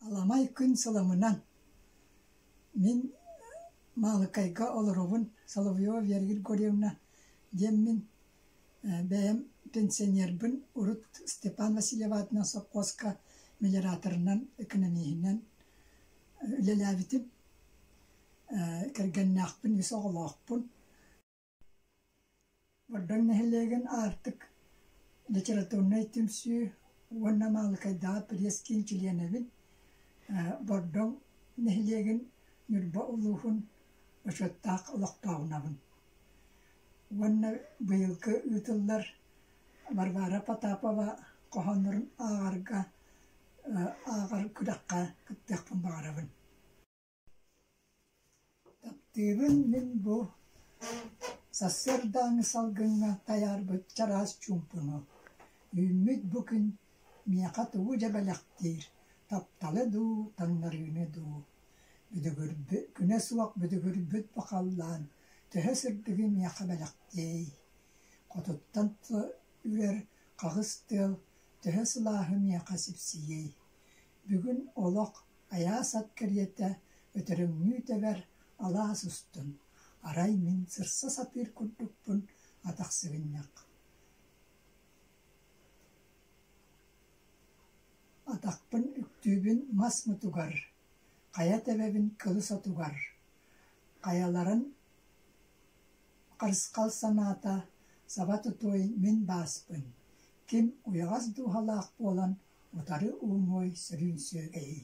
Аламай күн сыламынан мин Маалыкайга олоробун Соловьева Вера Григорьевна диэн мин бэйэм пенсионербын урут Степан Васильев аатынан сопхуоска мелиораторынан экономиһинэн үлэлээбитим кэргэннээхпин үс оҕолоохпун Гордон нэһилиэгин аартык, литературнай түмсүү уонна Маалыкайдааҕы пресс-киин чилиэнэбин. Гордон нэһилиэгин Ньурба улууһун Бочуоттаах олохтооҕунабын. Уонна быйылгы ыытыллар Варвара Потапова хоһооннорун ааҕарга ааҕар күрэххэ кыттыахпын баҕарабын. Таптыыбын мин бу сарсыардааҥы салгыҥҥа тайаарбыт чараас чуумпуну. Үүммүт бу күн миэхэ тугу дьэ бэлэхтиир, тапталы дуу, таҥнарыыны дуу? Бүдүгүрбү, күнэ суох бүдүгүрбүт бу халлаан төһө сырдыгы миэхэ бэлэхтиэй? Хотуттан тута үрэр хаҕыс тыал төһө сылааһы миэхэ сипсийиэй? Бүгүн олох айаас ат кэриэтэ өтөрөҥнүү тэбэр алаас устун, арай мин сырса сатыыр курдукпун атах сыгынньах атахпын үктүүбүн мас мутугар, хайа тэбэбин кылыс отугар, хайаларын Харысхал санаата, саба тутуой мин бааспын, ким уйаҕас дууһалаах буолан утары ууҥуой сөрүүн сүөгэйий